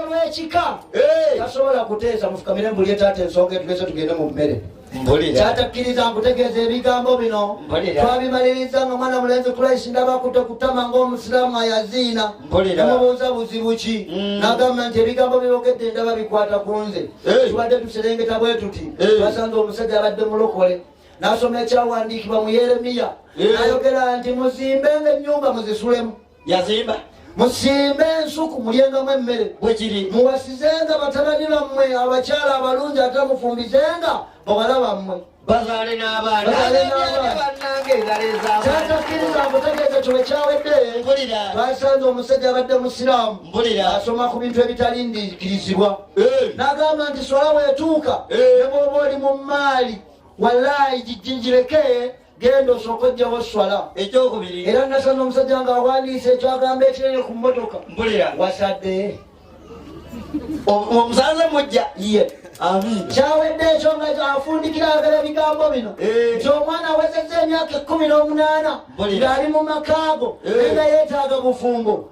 lwekika tasobola kuteesa mufukamire mbulye taata ensonga etugese tugende mu mmere kyatakkiriza nkutegeeza ebigambo bino twabimaliriza nga mwana mulenzi kulaisi ndabakute kutama ngaomusiraamu ayaziina namubuuza buzibu ki mm. nagamba nti ebigambo byogedde ndaba bikwata ku nze tubadde tuserengeta bwe tuti twasanze omusajja abadde mulokole nasoma ekyawandiikibwa mu yeremiya nayogera nti muzimbe nga ennyumba muzisulemu yazimba musimbe ensuku mulyengamu emmere bwekiri muwasizenga batabani bammwe abakyala abalungi ate mufumbizenga bawala bammwe bazaale n'abaanaatakkiriza mbutegeeza kino kyawedde basanze omusajja abadde musiraamu asoma ku bintu ebitalindikirizibwa eh. n'agamba nti swala weetuuka eh. ne bwoba oli mu maali walaayi gijjinjireke genda osooka ojjawo swala ekyokubiri era nasana omusajja nga awandiisa ekyagamba ekinene ku mmotoka mbulira wasadde omusanze mujja ye kyawedde ekyo nga afundikira agala bigambo bino eh. nti omwana awezeza emyaka ekumi n'omunaana ngaali mu makaago eh. era yeetaaga bufumbo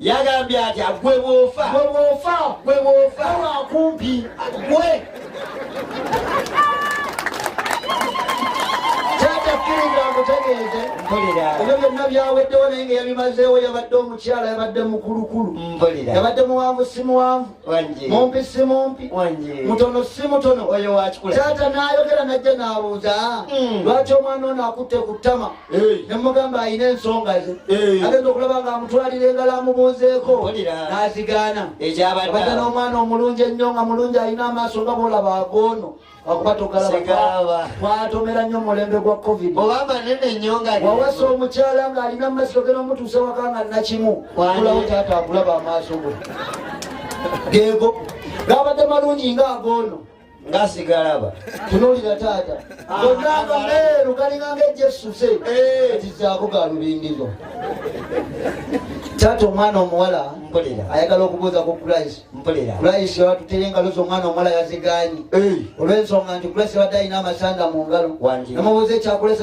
yagambye atya gwe bwofa gwe bwofa gwe bwofa wakumpi gwe ebyo byonna byaweddewo naye nga yabimazeewo yabadde omukyala yabadde mukulukulu yabadde muwanvu si muwanvu mumpi si mumpi mutono si mutono taata nayogera najja nabuuza hmm. lwaki omwana ono akutte ku ttama nemugamba alina ensonga ze agenda okulaba nga amutwalira engalo amubuuzeeko nazigaana abaga n'omwana omulungi ennyo nga mulungi alina amaaso nga bwolaba agoono wakuba togalaba twatomera nnyo mulembe gwa covid obama nene nnyo nga wawasa omukyala nga alina mumasiso gena omutuuse waka nga nakimu kulawo taata akulaba amaaso go geego gabadde malungi nga agoono ngasigalaba tunulira taata gonna ah, nga meeru galinga nga ejessuse eh. kizaako ga lubingizo taata omwana omuwala ayagala okubuuza ku christ mpulira layisi watutera engalo z'omwana omuwala yazigaanyi olw'ensonga nti kulesibadde alina amasanda mu ngalo namubuuza ekyakulesa